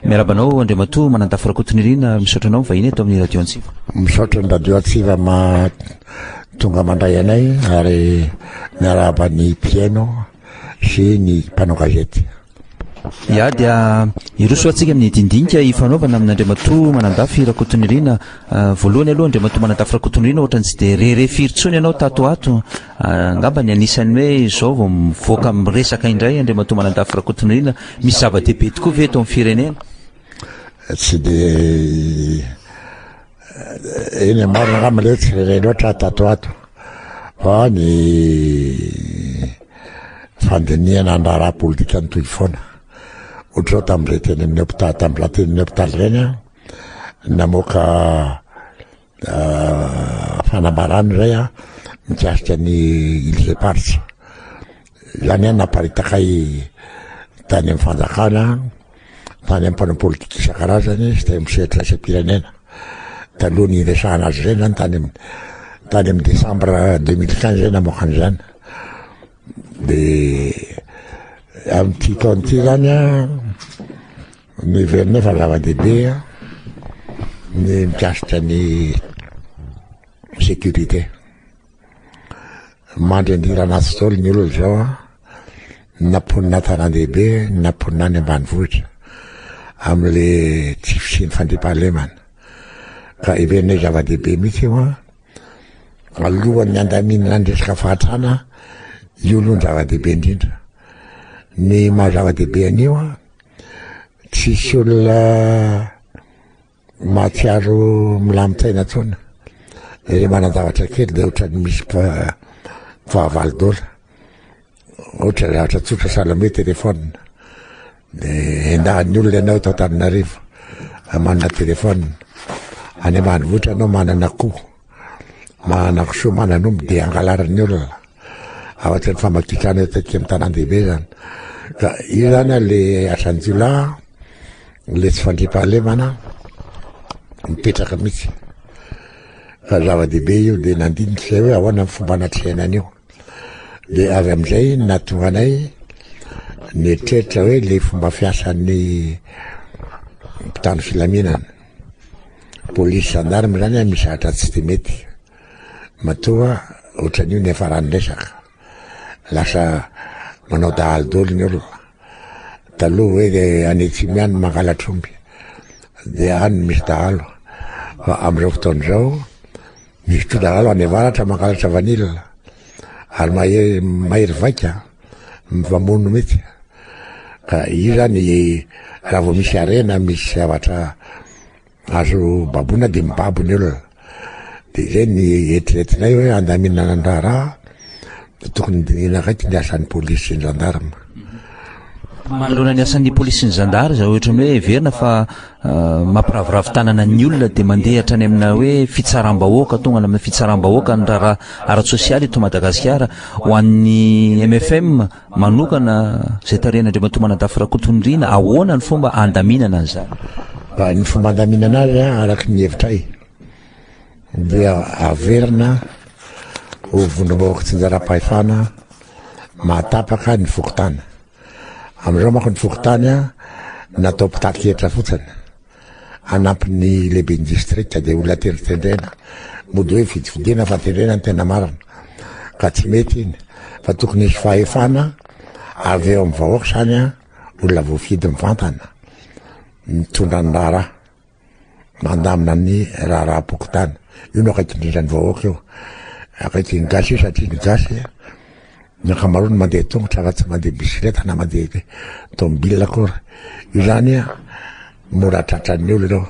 Miarahaba anao Andriamatoa Manantafo Rakotonirina ary misaotra anao mivahiny eto amin'ny Radio Antsiva. Misaotra ny Radio Antsiva ma tonga mandray anay ary miarahaba ny mpihaino sy ny mpanao gazety. Ya dia hiroso atsika amin'ny dindinika hifanaovana amin'Andriamatoa Manandafy Rakotonirina. Voalohany aloha Andriamatoa Manandafy Rakotonirina ohatrany tsy dia re re firy intsony ianao tato ho ato. Angamba ny anisan'ny hoe izao vao mivoaka miresaka indray Andriamatoa Manandafy Rakotonirina, misy zava-dehibe tokoa ve eto amin'ny firenena? Tsy dia eny marina angamba le tsy rere loatra tato ato fa ny fandinihana ny raharaha politika ny toy foana ohatrao tamin'irey teny amin'ny hopitaly tamin'ireny hopitaly ireny namoaka fanambarana iray a mikasika ny Îles Éparses. Izany a naparitaka ahy tany amin'ny fanjakana, tany amin'ny mpanao politika isan-karazany sy tany amin'ny sehatra iraisam-pirenena. Taloha ny hiresahana azy ireny zany tany amin'ny tany amin'ny décembre 2015 izay namoaka an'izany. Dia amin'ity taona ity zany a Noheverinay fa zava-dehibe ny mikasika ny sécurité. Mandry andiran'asa izao ny olona izao an, na mponina an-tanàn-dehibe na mponina any ambanivohitra amin'ilay tsy fisian'ny fandriampahalemana. Ka heverinay zava-dehibe mihitsy io an, alohan'ny handaminana ny resaka fahantrana, io aloha no zava-dehibe indrindra. Ny maha zava-dehibe an'io an. tsisy olona mahatsiaro milamin-tsaina tsona le manan-javatra kely de ohatrany misy fahavalo dola ohatra zavatra tsotra salome telefona de endahan'ny olona ianao eto antananarivo manana telefona any ambanivohitra anao manana koa Manakosoa manan'omby dia angalarin'ny olona ao anatin'ny famakitrana eto aty amin'ny tanàn-dehibe izany. Ka io izany ilay asan'ny jiolahy, ilay tsy fandriampahalemana mipetraka mihitsy. Ka zava-dehibe io dia nandinika izay hoe ahoana ny fomba anatrehana an'io. Dia avy amin'izay nahatonga anay nieritreritra hoe ilay fomba fiasan'ny mpitandro filaminana. Polisy gendarme zany an misy zatra tsy de mety matoa otranio niafarany resaka lasa manao dahalo doly ny olona taloha hoe de any atsimo ihany mangalatr'omby de any misy dahalo fa amizao fotoana izao Misy mpilalao any avaratra mangalatra vanille ary mahery mahery vaika mivamono mihitsy ka io zany raha vao misy harena misy zavatra azo baboina dia mibabo ny olona dia zay ny eritreretinay hoe handaminana ny raharaha Tokony dinihina raiky ny asan'ny polisy sy ny zandarma. Manoloana ny asan'ny polisy sy ny zandary izao ohatran'ny hoe heverina fa ah, mampiraviravy tanana ny olona dia mandeha hatrany amina hoe fitsaram-bahoaka, tonga any amin'ny fitsaram-bahoaka ny raharaha ara-tsosialy eto Madagasikara. Ho an'ny MFM manokana izay tarihan'Andriamatoa Manadafy Rakotonirina, ahoana ny fomba handaminana an'izany? Ny fomba handaminana azy araka ny hevitray dia averina ho vondrom-bahoaka tsinjaram-pahefana mahatapaka ny fokontany. Amin'izao manko ny fokontany natao mpitati-kevitra fotsiny anampin'ny lehiben'ny distrika dia olona tendrotendrena mody hoe fidifidiana fa tendrena ny tena marina ka tsy mety iny fa tokony hisy fahefana avy eo amin'ny vahoaka izany olona voafidy mivantana mitondra ny raharaha mandamina ny raharaham-pokontany. Io no akaiky indrindra ny vahoaka io. Akaiky ny gasy io satria ny gasy ny ankamaroany mandeha tongotra raha tsy mandeha bisikileta na mandeha tomobila akory. Io zany mora tratran'ny olona io.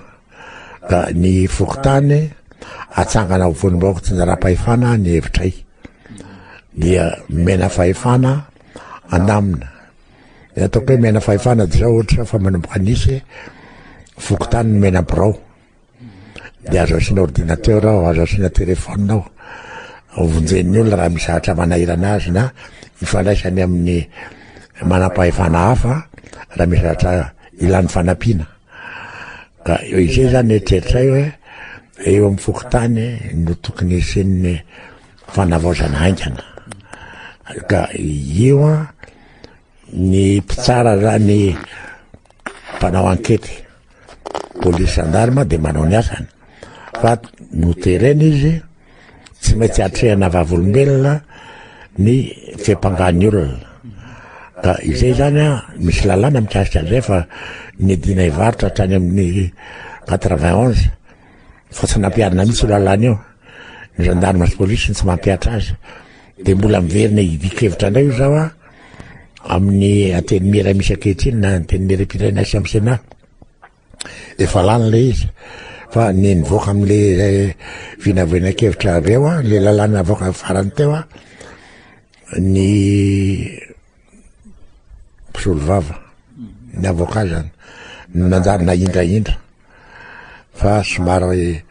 Da ny fokontany atsangana ho vonim-bahoaka tsinjaram-pahefana ny hevitray. Dia mena fahefana andamina. Ny ataoko hoe mena fahefana dia izao ohatra fa manomboka nisy fokontany mena birao. Dia azo asiana ordinateur ao, azo asiana téléphone ao. Vonjen'ny olona raha misy zavatra manahirana azy na ifandraisany amin'ny manam-pahefana hafa raha misy zavatra ilany fanampiana. Ka izay zany eritreritray hoe eo amin'ny fokontany no tokony hisian'ny Fanavaozana haingana. Ka io an, ny mpitsara ra ny mpanao ankety, polisy sandarma dia manao ny asany. Fa noterena izy, tsy maintsy atrehana vavolombelona ny fiampangan'ny olona. Ka izay izany an, misy lalàna mikasika an'izay fa ny dina hivarotra hatrany amin'ny 91 Fa tsy nampiharina mihitsy io lalàna io. Ny gendarme sy police no tsy mampihatra azy. Dia mbola miverina hidikevitra indray io zaho amin'ny antenimiera misy ankehitriny na antenimiera mpitaina sy amin'ny Sénat. Efa lany ilay izy. Fa ny nivoaka amin'ilay eh, vinavinankevitra avy eo, ilay lalàna avoaka farany teo, ny mpisolo vava ny avocat zany no nanjary nahindrahindra fa somary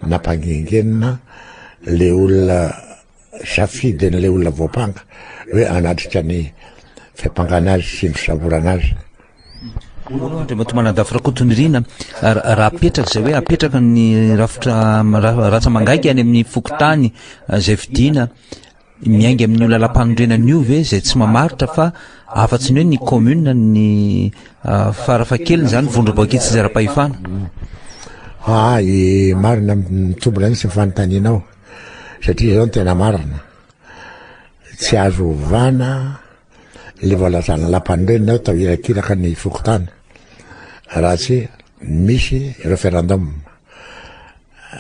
nampangingenina le olona safidy an'le olona voampanga hoe anatrika ny fiampangana azy sy ny fisavorana azy Andriamatoa Manadafy Rakotonirina raha apetraka izay hoe apetraka ny rafitra ratsa mangaika any amin'ny fokontany izay fidina Miainga amin'io lalam-panorenana io ve izay tsy mamaritra fa afa-tsy ny hoe ny commune ny farafahakeliny izany vondromboaky tsy zara-pahefana? Aa eh, marina mitombina mihitsy ny fanontanianao satria izao ny tena marina tsy azo ovana le voalazana lampanorenana eo tao irakiraka ny fokontany raha tsy misy referendum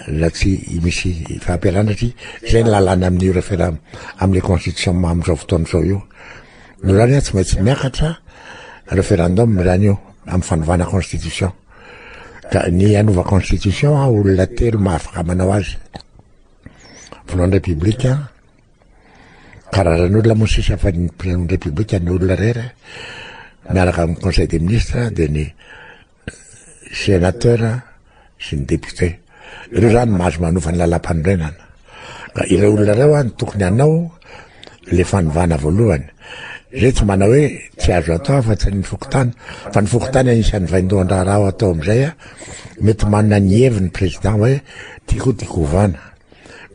na tsy misy fampialana satria izay ny lalàna amin'io referam amin'ny constitution amin'izao fotoana izao io no izany hoe tsy maintsy miakatra referendum izany io amin'ny fanovana constitution ka ny hanova constitution a olona telo mahafaka manao azy voalohany repoblika karazan'olona moa sisa fa ny presidente repoblika ny olona rery miaraka amin'ny conseil des ministres dia ny Sénateur sy ny député. Ireo zany no mahazo manova ny lalam-panorenana. Ka ireo olona ireo an tokony hanao le fanovana voalohany. Zay tsy manao hoe tsy azo atao afa-tsy ny fokontany fa ny fokontany anisan'ny vaindohan-draharaha ao atao amin'izay a mety manana ny heviny président hoe tiako tiako hovana.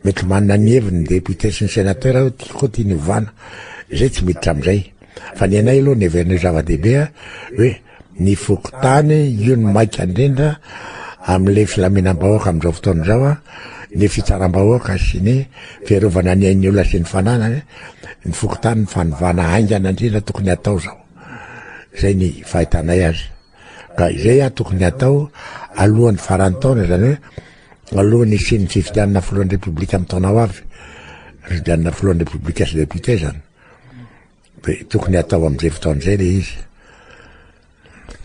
Mety manana ny heviny ny député sy ny sénateur hoe tiako tiany hovana. Zay tsy miditra amin'izay. Fa ny anay aloha ny heverinay zava-dehibe a hoe ny fokontany, io no maika indrindra amin'ilay filaminam-bahoaka amin'izao fotoana izao a, ny fitsaram-bahoaka sy ny fiarovana ny ain'ny olona sy ny fananany, ny fokontany ny fanovana haingana indrindra tokony atao izao, izay ny fahitanay azy. Ka izay a tokony atao alohan'ny faran'ny taona izany hoe alohan'ny hisian'ny fifidianana filohan'ny Repoblika amin'ny taona ho avy, fifidianana filohan'ny Repoblika sy Député izany. Dia tokony hatao amin'izay fotoana izay ilay izy.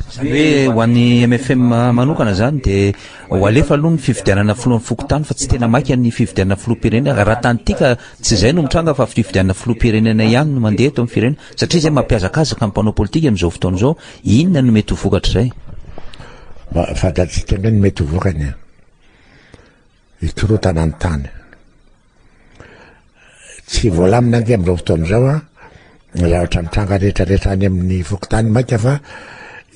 Izany hoe ho an'ny MFM manokana izany dia ho alefa aloha ny fifidianana filohan'ny fokontany fa tsy tena maika ny fifidianana filoham-pirenena. Raha tany Tika tsy izay no mitranga fa fifidianana filoham-pirenena ihany no mandeha eto amin'ny firenena. Satria izay mampihazakazaka ny mpanao politika amin'izao fotoana izao, inona no mety ho vokatr'izay? Fantatsika ange ny mety ho vokany e! Hikorontana ny tany. Tsy voalamina ange amin'izao fotoana izao a, ny zavatra mitranga rehetrarehetra any amin'ny fokontany mainka fa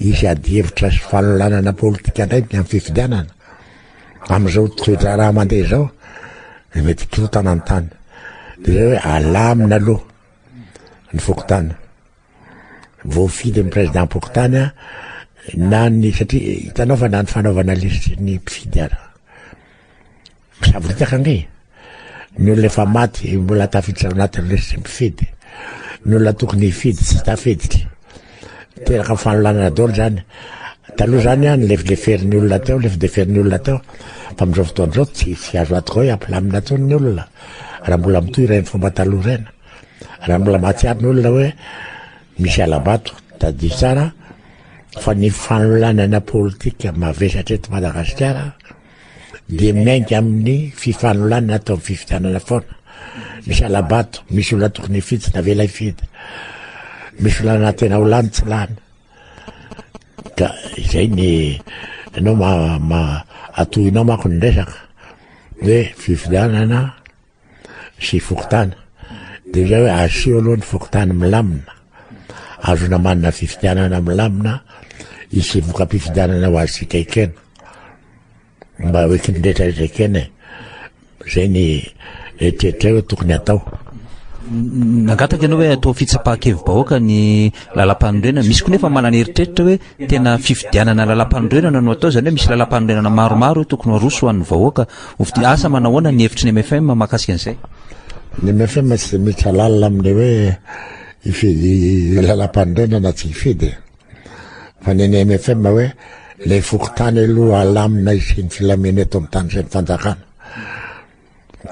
hisy adihevitra sy fanolanana politika indray ny amin'ny fifidianana. Amin'izao toe-draharaha mandeha izao, dia mety hikorontana ny tany. Dia izay hoe alamina aloha ny fokontany. voafidy ny président-pokontany na ny satria hitanao fa na ny fanaovana lisitry ny mpifidy ara misavoritaka ange ny olona efa maty mbola tafiditra anatin'ny lisitry mpifidy ny olona tokony hifidy tsy tafiditra teraka fanolanana dolo zany taloha zany a ny lefileferin'ny olona teo lefideferin'ny olona teo fa amin'izao fotoana izao tsy tsy azo atoko hoe ampilamina tony ny olona raha mbola mitohy ireny fomba taloha ireny Raha mbola mahatsiaro ny olona hoe misy alabato, tadidio tsara fa ny fanolanana politika mavesatra eto Madagasikara dia miainga amin'ny fifanolanana atao amin'ny fifidianana foana. Misy alabato, misy olona tokony hifidy na vela hifidy. Misy olona tena ho lany tsy lany. Ka izay ny ianao ma, ma atohinao manko ny resaka hoe fifidianana sy fokontany dia izay hoe asio aloha ny fokontany milamina azona manana fifidianana milamina isy voka-pifidianana ho azontsika ekena mba hoe kiny rehetra rehetra ekena e zay ny eritreritra hoe tokony atao nangataka ianao hoe atao fitsapahan-kevi-bahoaka ny lalam-panorenana misy koa nefa manana eritreritra hoe tena fifidianana lalam-panorenana no atao izany hoe misy lalam-panorenana maromaro hoe tokony ho aroso ho an'ny vahoaka Ovidia, asa manahoana ny hevitry ny mfm mahakasika an'izay? Ny mfm tsy dia miditra lalina amin'ny hoe hifidy lalam-panorenana na tsy hifidy e. Fa ny an'ny mfm hoe ilay fokontany aloha halamina hisian'ny filamina eto amin'ny tany sy ny fanjakana.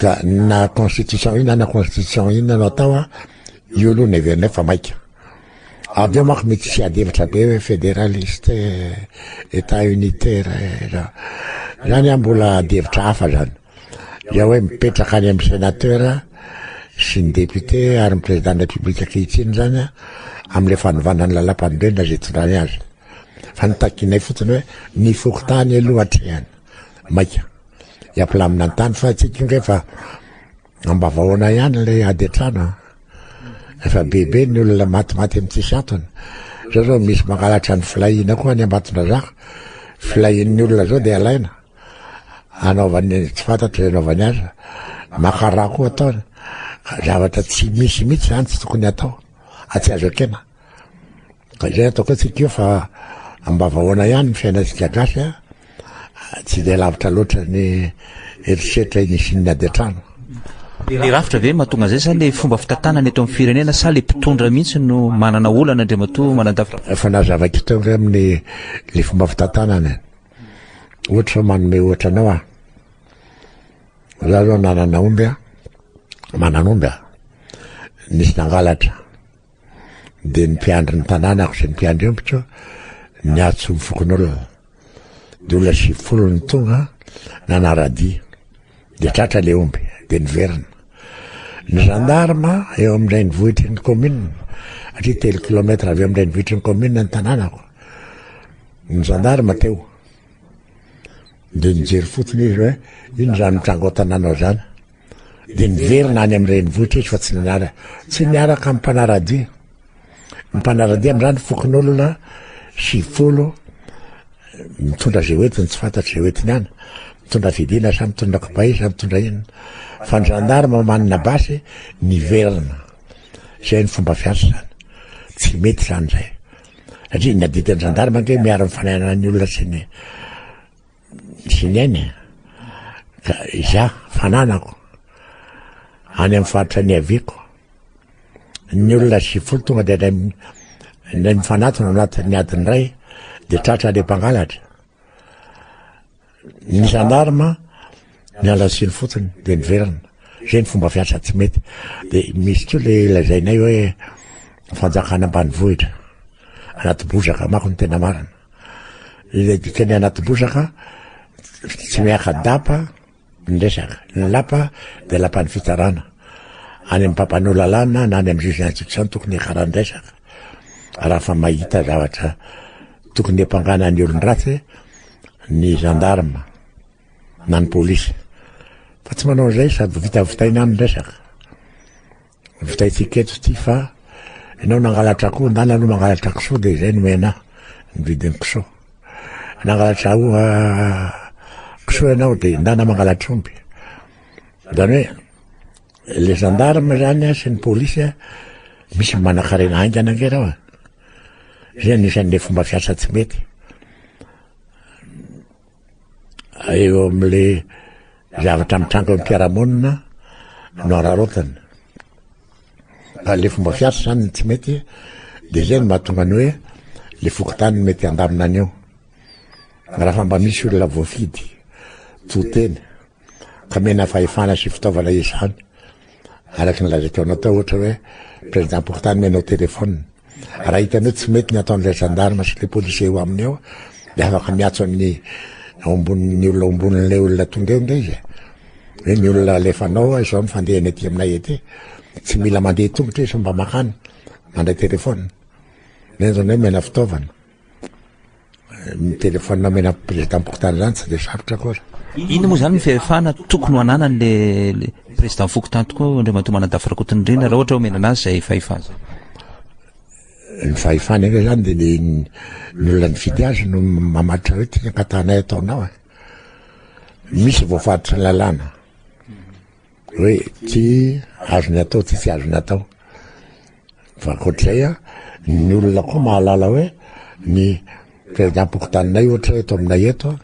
Ka na constitution inona na constitution inona no atao, io aloha no heverina fa maika. Avy eo manko mety tsy hiady hevitra be hoe federaliste, état unitaire eh, zany an mbola adihevitra hafa zany. Dia hoe mipetraka any amin'ny sénateur sy ny député ary ny président de la République ankehitriny zany an amin'ilay fanovana ny lalam-panorenana izay hitondrany azy. Fa ny takinay fotsiny hoe ny fokontany aloha atrehana. Maika. Hiapilamina ny tany fa tsy tonga efa Ambavao anay ihany ilay ady an-trano a. Efa bebe ny olona matimaty amin'ny tsisy antony. Zao zao misy mangalatra ny filahiana koa any Ambatondrazaka. Filahian'ny olona zao dia alaina. Anaovany tsy fantatro izay anaovany azy. Maka rà koa ataony. Zavatra tsy misy mihitsy izany tsy tokony atao. Atsy azo ekena. Ka izay ataoko hoe tsy tiako fa ambavahoana ihany ny fiainantsika gasy a, tsy dia lavitra loatra ny herisetra inisian'ny ady an-trano. Ny rafitra ve no mahatonga an'izay sa ilay fomba fitantanana eto amin'ny firenena sa ilay mpitondra mihitsy no manana olana Andriamatoa Manandafy? Efa nazavaiko teo angamba ny ilay fomba fitantanana e. Ohatra izao manome ohatra anao aho. Izaho izao nanana omby a, manana omby a, nisy nangalatra. dia ny mpiandry ny tanànako sy ny mpiandry ombiko niatso ny fokonolona dia olona sivifolo ny tonga nanaradia dia tratra le omby dia niverina ny gendarme eo amin'ireny vohitry ny commune atria telo kilometre avy eo amin'ireny vohitry ny commune ny tanànako ny gendarme teo dia nijery fotsiny izy hoe iny zany mitrango tanànao zany dia niverina any amin'ny renivohitra izy fa tsy niara tsy niaraka amin'ny mpanaradia ny mpanaradia amin'izany fokonolona sivifolo mitondra izay hoentiny tsy fantatra izay hoentiny any mitondra fidina sa mitondra kibay sa mitondra inona fa ny gendarme manina basy niverina izay ny fomba fiasa izany tsy mety izany izay satria ny adidin'ny gendarme ange miara mifananan'ny olona sy ny Tsinaina ka izaho fananako any amin'ny faritra niaviako. Ny olona sivifolo tonga dia indray indray mifanatona anatin'ny adiny iray dia tratra ilay mpangalatra. Ny zandarma niala siny fotsiny dia niverina. Izay ny fomba fiasa tsy mety. Dia misy koa ilay lazainay hoe fanjakana ambanivohitra. Anaty bozaka manko ny tena marina. Ilay dikan'ny anaty bozaka tsy miaka-dapa ny resaka. Ny lapa dia lapan'ny fitsarana. Any amin'ny mpampanoa lalàna na any amin'ny juge d'instruction tokony hiakarany resaka. Raha fa mahita zavatra tokony hapangana ny olon-dratsy ny gendarme na ny polisy. Fa tsy manao an'izay sady vita vitaina any ny resaka. Vitaintsika eto ity fa enao nangalatra akoho ndana aloha mangalatra kisoa dia izay nomena ahy ny vidin'ny kisoa. Nangalatra aho kisoa ianao dia ndana mangalatra omby. Izany hoe le gendarme izany sy ny polisy misy manakarena haingana ange reo. Izay anisan'ilay fomba fiasa tsy mety. eo amin'le zavatra mitranga eo am-piarahamonina no araraotana fa le fomba fiasa zany ny tsy mety de zay no mahatonga ny hoe le fokontany mety handamina an'io raha fa mba misy olona voafidy to tena ka mena fahefana sy fitaovana izany Araka ny lazaiko anao tao ohatra hoe président portale menao téléphone. Raha hitany hoe tsy mety ny ataon'ilay gendarme sy le policier eo aminy eo de afaka miatso amin'ny ao ambonin'ny olona ao ambonin'ilay olona tonga eo nge izy. Hoe ny olona alefanao a izao ny fandehany aty aminay aty. Tsy mila mandeha tongotra izy fa mba makany mandray téléphone. Zay zany hoe mena fitaovana. Ny téléphone nomena président-pokontany zany tsy de sarotra akory. Inona moa zany ny fahefana tokony ho ananany le président fokontany tokoa Andriamatoa Manadafy Rakotonindrina raha ohatra omena anazy zay fahefana zay? Ny fahefana anie zany de ny ny olona nifidy azy no mamaritra hoe ty ny ankatanay ataonao e. Misy voafaritry ny lalàna. Hoe ity azony atao, ity tsy azony atao. Fa ankoatr'izay, ny olona koa mahalala hoe ny prezidampokotany ohatra eto aminay eto,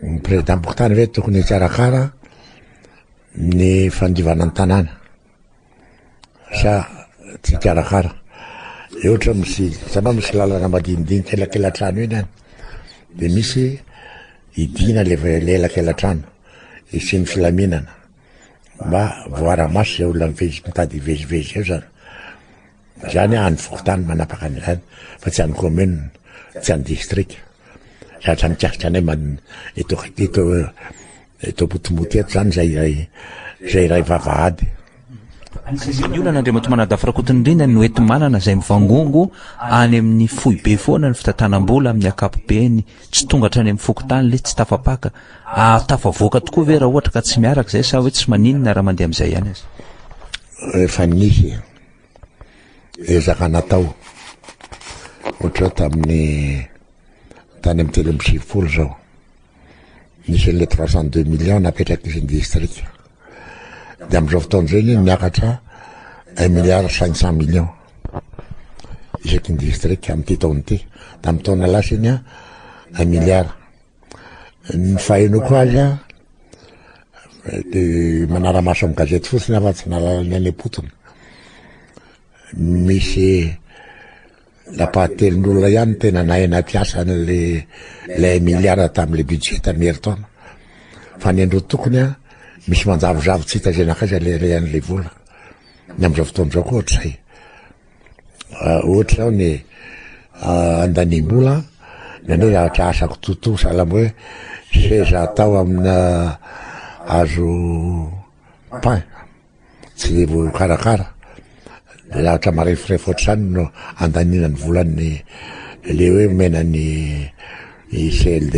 ny prezidampokotany ve tokony hikarakara ny fandivana ny tanàna. Sa tsy hikarakara? Eo ohatra misy, hitanao misy lalana madinidinika elakelatrano iny any, dia misy hidiana le elakelatrano, hisian'ny filaminana, mba voara-maso izay olona mitady hivezivezy eo zany. Izany an ny fokontany manapaka an'izany fa tsy an'ny commune, tsy an'ny district. Zatra mikasika anay man eto eto eto Ambotomboto eto zany zay iray zay iray vavahady. Ny olana Andriamatoa Manadafy Rakotonirina no eto manana izay mivangongo any amin'ny foibe foana ny fitantanam-bola amin'ny ankapobeny tsy tonga hatrany amin'ny fokontany le tsy tafapaka ary tafavoaka tokoa ve raha ohatra ka tsy miaraka izay sa hoe tsy maninona raha mandeha amin'izay ihany aza? Efa nisy e. ezaka natao ohatra tamin'ny tany amin'ny telo amby sivifolo zao nisy an'ilay trois cent deux millions napetrak'izy ny distrika dia amin'izao fotoana izay ny miakatra un milliard cinq cent millions isaky ny distrika amin'ity taona ity tamin'ny taona lasa iny a un milliard Ny fahenoko azy a, dia manara-maso amin'ny gazety fotsiny aho fa tsy nahalala ny any am-potony. Misy nampahatelin'olona ihany tena nahay anaty asa an'le le Emiliana tamin'le budget tamin'ny herintaona. Fa ny andro tokony a, misy manjavozavo tsy hita izay nankaiza le rehan'le vola. Ny amin'izao fotoana izao koa ohatr'izay. Ohatra zao ny andanimbola na ny zavatra asako tontosa sahala hoe seza atao amina hazo pin tsy dia voakarakara dia zavatra mareforefo ohatr'izany no andaniana ny volan'ny le hoe omena ny CLD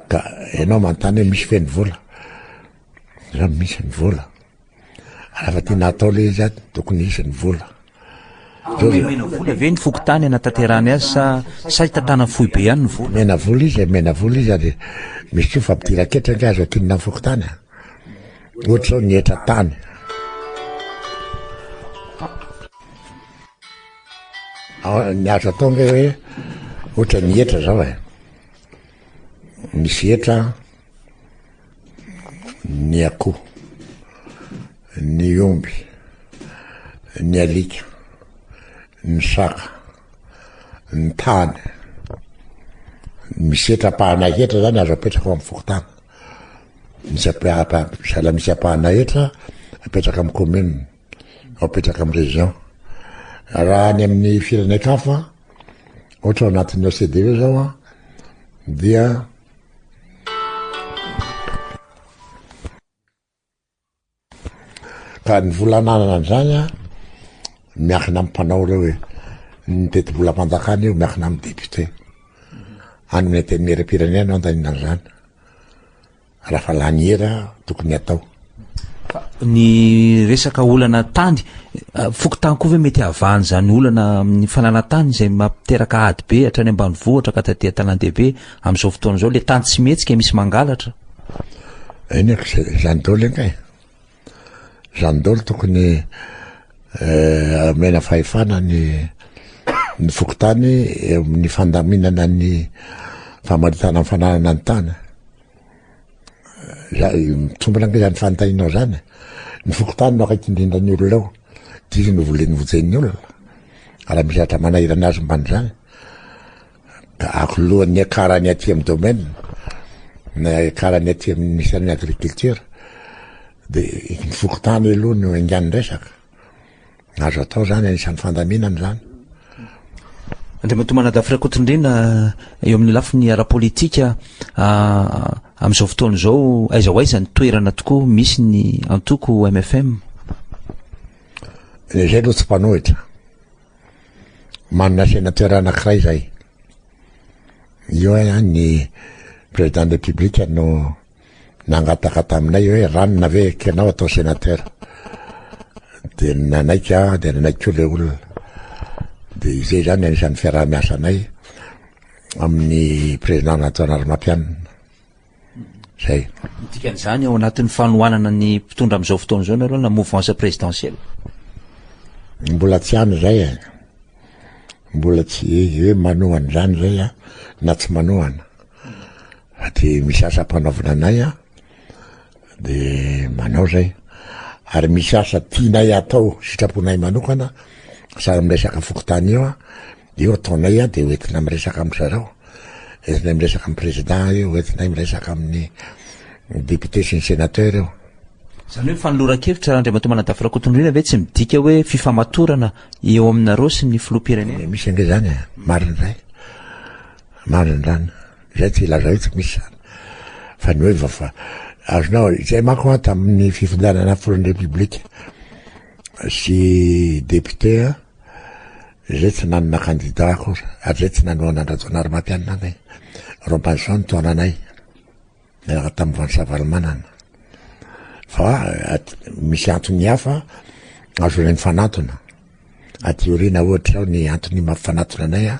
ka ianao manontany hoe misy ve ny vola? Izaho misy ny vola. Raha tena atao ilay izy ato tokony hisy ny vola. Omena vola ve ny fokontany hanatanterahany azy sa sa hitantanan'ny foibe ihany ny vola? Omena vola izy, omena vola izy ary misy koa fa ampidirana ketra ange azo akinina ny fokontany. Ohatra izao ny hetra tany. Ny azo atao ange hoe ohatra ny hetra izao e. Misy hetra ny akoho, ny omby, ny alika, ny saka, ny tany. Misy hetra-pahana hetra zany azo apetraka amin'ny fokontany. Misy apetraka sahala misy ampahana hetra apetraka amin'ny commune, apetraka amin'ny région. Raha any amin'ny firenekafa, ohatra ao anatin'ny OCDE zao an, dia Ka ny vola ananana an'izany an, miankina amin'ny mpanao ireo e. Ny tetibolam-panjakana io miankina amin'ny député. Any amin'ny antenimieram-pirenena no andaniana an'izany. Raha fa laniera tokony atao. Fa ny resaka olana tany, fokontany koa ve mety havahan' izany olana amin'ny fananan-tany izay mampiteraka ady be hatrany ambanivohitra ka taty an-tanàn-dehibe amin'izao fotoana izao, ilay tany tsy mihetsika misy mangalatra? Eny aka izay, izany daholo anie e! Izany daholo tokony omena fahefana ny ny fokontany eo amin'ny fandaminana ny famaritana ny fananana ny tany. Zay mitombina angah zany fanontanianao zany. Ny fokontany no akaiky indrindra ny olona ao, dia izy no voleny vojehin'ny olona. Raha misy zavatra manahirana azy momba an'izany, ka ankoloany ny akarany aty amin'ny domaine, na akarany aty amin'ny ministère-n'ny agriculture, dia ny fokontany aloha no enganin'ny resaka. Azo atao izany, anisan'ny fandaminana izany. Andriamatoa Manadafy Rakotondrena, eo amin'ny lafiny ara-politika, ah, amin'izao fotoana izao, aiza ho aiza ny toerana tokoa misy ny antoko MFM? Ny izay aloha tsy mpanohitra. Manana sénateur anankiray izay. Io eh, ny président de la République no nangataka taminay hoe ranona ve ekenao atao sénateur dia nanaiky aho dia nanaiky koa ilay olona dia izay izany anisan'ny fiaraha-miasanay amin'ny président Antoine Armatianina zay dikan'izany ao anatin'ny fanohanana ny mpitondra amin'izao fotoana izao nareo na mouvance présidentielle mbola tsy any zay e mbola tsy hoe manohana izany zay a na tsy manohana Aty misy asa ampanaovina anay an, de manao zay. Ary misy asa tianay atao sitraponay manokana, sahala amin'ny resaka fokontany io an, de io ataonay an, de hoentina miresaka amin-dry zareo, entinay miresaka amin'ny président io, hoentinay miresaka amin'ny député sy ny sénateur io. Izany hoe fanoloran-kevitra Andriamatoa Manadafy Rakotondriana ve tsy midika hoe fifamatorana eo aminareo sy ny Filoham-pirenena? Misy ange zany e, marina zay, marina zany. Izay tsy hilaza hoe tsy misy izany, fa ny hoe vafa, azonao, izay manko an tamin'ny fifidianana filohan'ny Repoblika sy député an, izay tsy nanana candidat akory, ary izay tsy nanohana an-dRajaonarimampianina anay, Robinson no taona anay, niaraka tamin'i Vansa Ravalomanana. Fa at- misy antony hafa azonay mifanantona. Aty aoriana ohatra izao ny antony mampifanantona anay an,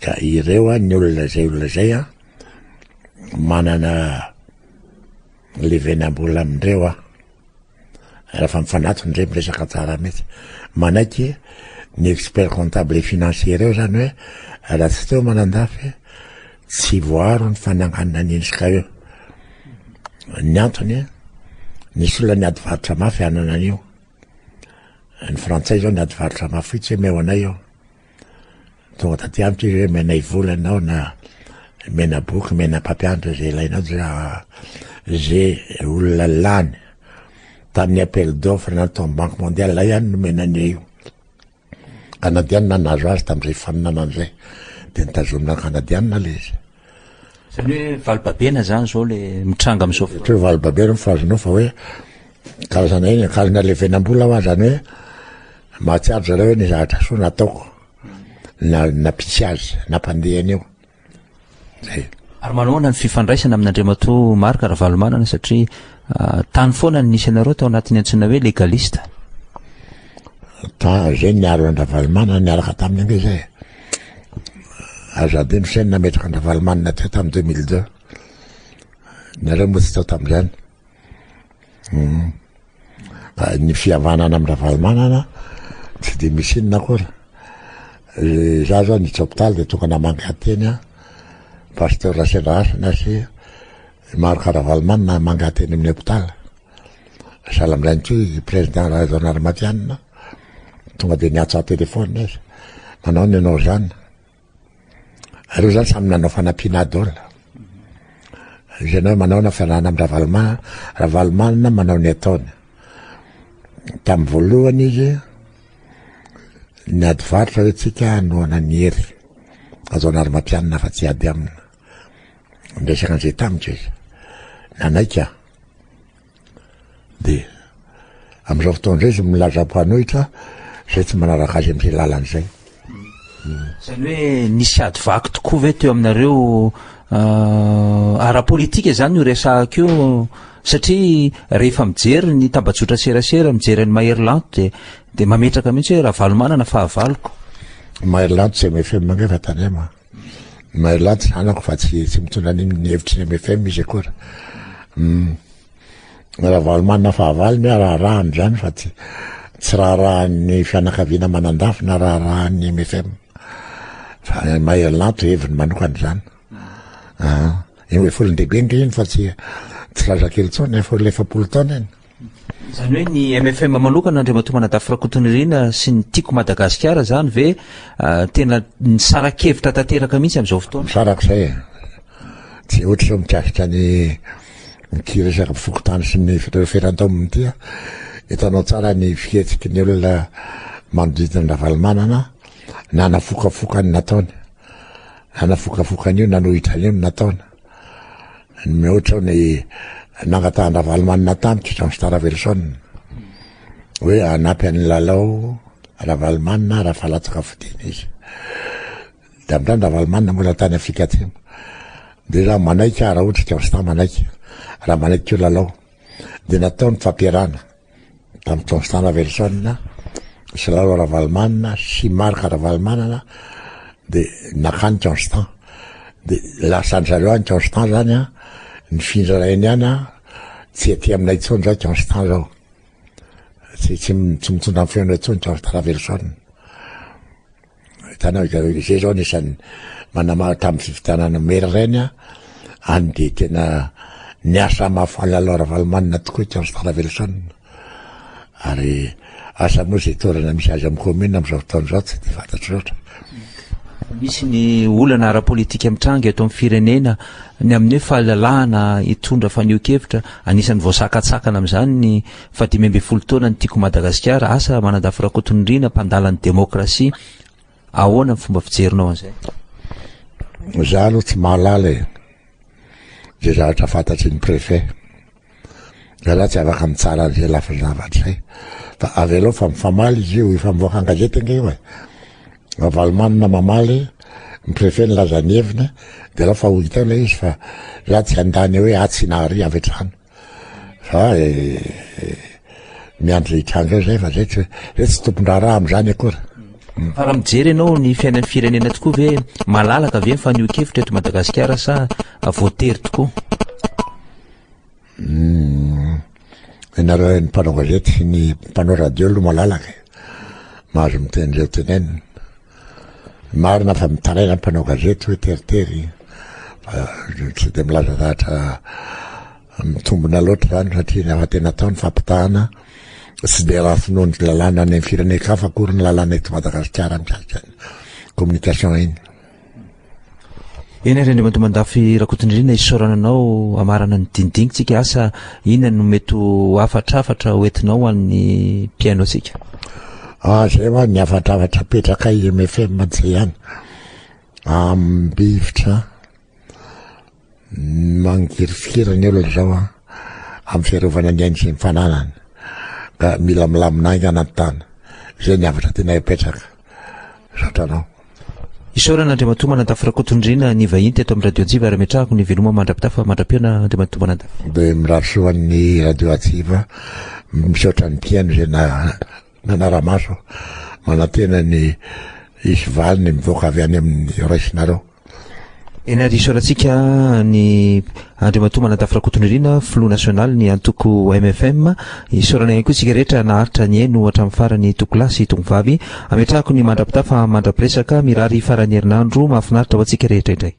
Ka ireo an, ny olona izay olona izay an, manana levenam-bola amindreo an. Rehefa mifanatona indray miresaka tsara mihitsy. Manaiky ny expert comptable et financier ireo zany hoe raha tsy teo Manandafy tsy voaro ny fananganana ny INSCA io. Ny antony, nisy olona niady varotra mafy hanana an'io. Ny frantsay izao niady varotra mafy fotsiny hoe omeo anay io. Tonga taty amiko izy hoe menay vola ianao na mena boky, mena mpampianatra izay ilainao dia izay olona lany tamin'ny appel d'offre natao amin'ny Banque mondiale ilay ihany nomena an'io io. Kanadianina nahazo azy tamin'izay faninanana izay dia nitazomina ny Kanadianina ilay izy. Izany hoe valibabena izany izao ilay mitranga amin'izao fotoana. Ohatra hoe valibabena no fahazoanao fa hoe karazana iny akanjo nalevenam-bola hoa, izany hoe mahatsiaro zareo hoe ny zavatra soa nataoko na nampitsy azy, nampandeha an'io. Zay. Ary manahoana ny fifandraisana amin'Andriamatoa Marc Ravalomanana satria ah, tany foana no nisy anareo tao anatin'ny antsoina hoe legaliste. Ta- Izay niaro an-dRavalomanana niaraka taminy ange izay. Azo adino ny saina nametraka an-dRavalomanana teo tamin'ny deux mille deux. Nareo moa tsy tao tamin'izany. Hmm. Ah, ny fihavanana amin'ny Ravalomanana tsy dia misy inona akory. Eh, za zao ny hopitaly dia tonga namangy hateny a pasteur Rasela Hasina sy maro karavalomanina namangy hateny amin'ny hopitaly. Sahala amin'izany koa i président Rahaizao Narimatianina Tonga dia niantsa telefaonina izy. Manao ny ianao izany. Ireo izany samy nanao fanampiana adol. Izay ianao manao na fianarana amin'ny Ravalomanana, Ravalomanana manao ny ataony. Tamin'ny voalohany izy, ny ady varotra hoe tsika hanohana ny hery. Azao anary matianina fa tsy ady amina. Niresaka an'izay tamiko izy. Nanaika. Dia. Amin'izao fotoana izao izy milaza mpanohitra izay tsy manaraka azy amin'izay lalana izay. Izany hoe nisy ady vaky tokoa ve teo aminareo euh, ara-politika izany io resahako io satria rehefa mijery ny tambajotra serasera mijery an'i Mahery Lanto dia dia mametraka mihitsy hoe Ravalomanana fahavaloko. Mahery Lanto tsy MFM angamba tany ama. Mahelan'ny tsy zanako fa tsy tsy mitondra an'iny ny hevitry ny MFM izy akory. Mm. Ravalomanana fahavalo ny raharahany izany fa tsy tsy raharahan'ny fianakaviana manandafy na raharahan'ny MFM. Fa mahelanto heviny manokana izany. Ah, eo efolon-dehibe nge iny fa tsy tsy zazakely intsony, efa olona efapolo taona iny. Izany hoe ny mfm manokana Andriamatoa Manadafy Rakotonirina sy ny Tiako Madagasikara izany ve tena nisara-kevitra tanteraka mihitsy amin'izao fotoana? Misarak'izay e! Tsy ohatra izao mikasika ny ity resaka mpifokontany sy ny feran-taominy ity a! Hitanao tsara ny fihetsiky ny olona manodidina an'i Ravalomanana na nafokafokany nataony, na nafokafokany io nanohitra an'io ny nataony. Mihoatra ny nangatahan-dRavalomanana tamiko Jean Star Ravelison hoe hanampy an'i Lalao Ravalomanana raha fa latsaka fodiana izy. Tamin'izany Ravalomanana moa raha tany Afrika Atsimo. Dia raha manaiky aho, raha ohatra i Jean Star manaiky, raha manaiky koa Lalao, dia natao ny fampiarahana. tamin'ny Constant Ravelison, Silalo Ravalomanana sy Marc Ravalomanana dia nakany Constant. Dia lasan'ny zareo any Constant zany an, nifindra ray ny any an, tsy aty aminay intsony zao Constant zao. Tsy, tsy, tsy mitondra ny feonay intsony Constant Ravelison. Hitanao hitanao izay zao anisan'ny manamaro tamin'ny fifidianana maire ireny a any dia tena niasa mahafaly lalao ravalomanina tokoa i Charles Taravelson ary asa moa izay toerana misy azy amin'ny commune amin'izao fotoana izao tsy dia fantatro loatra misy ny olana ara-politika mitranga eto amin'ny firenena ny amin'ny hoe fahalalahana hitondra fanio-kevitra anisan'ny voasakatsakana amin'izany ny Fa dimy ambin'ny folo taona ny Tiako Madagasikara, asa Manandafy Rakotonirina mpandala ny demokrasia, ahoana ny fomba fijerinao an'izay? Za aloha tsy mahalala e, ze zavatra fantatry ny préfet, za za tsy afaka mitsara an'izay lafiny zavatra izay, fa avelao fa mifamaly izy io, efa mivoaka an-gazety ange io e, Ravalomanana mamaly, ny préfet nilaza ny heviny, dia alao fa ho hita eo ilay izy fa za tsy handany hoe atsy na arỳ avy hatrany. Fa eh, eh, miandry hitranga zay fa zay tsy zay tsy tompon-draharaha am'zany akory. Hmm. Fa raha mijery ianao ny fiainan'ny firenena tokoa ve malalaka ve ny fanehoan-kevitra eto Madagasikara sa voatery tokoa? Hmm. Ianareo ny mpanao gazety sy ny mpanao radio aloha malalaka. Mahazo miteny izay tenenina. Marina fa mitaraina ny mpanao gazety hoe teritery fa tsy dia milaza zavatra mitombona loatra izany satria ny hafatena atao ny fampitahana tsy dia raha finoan'ny lalàna any amin'ny firenen-kafa akory ny lalàna eto Madagasikara mikasika ny communication iny. Eny ry Andriamatoa Mandafy Rakotonirina isaorana anao hamarana ny dinidinintsika asa inona no mety ho hafatrafatra hoentinao ho an'ny mpihaino antsika? Ah, zay hoa ny hafatrafatra apetraka IMFM tsy ihany. Ambivitra. Mangirifiry ny olona izao an, amin'ny fiarovana ny ainy sy ny fananany ka mila milamina aina anaty tany. Izay ny avatra tianay apetraka. Misaotra anao. Isaorana Andriamatoa Manantafo Rakotondriana ny vahiny teto amin'ny Radio Atsiva ary ametrahako ny veloma mandra-pitafa mandra-pihaona Andriamatoa Manantafo. Dia mirary soa an'ny Radio Atsiva, misaotra ny mpihaino izay Manara-maso aho, manantena ny hisy valiny mivoaka avy any amin'ny raisinareo. Eny ary isaorantsika ny Andriamatoa Manantafy Rakotonirina, Filoha Nasionaly ny antoko MFM. Isaorana ihany koa isika rehetra naharitra nihaino hatramin'ny farany Tokolahy sy Tongovavy. Ametrahako ny mandra-pitafa mandra-piresaka. Mirary faran'ny herinandro mahafinaritra ho antsika rehetra indray.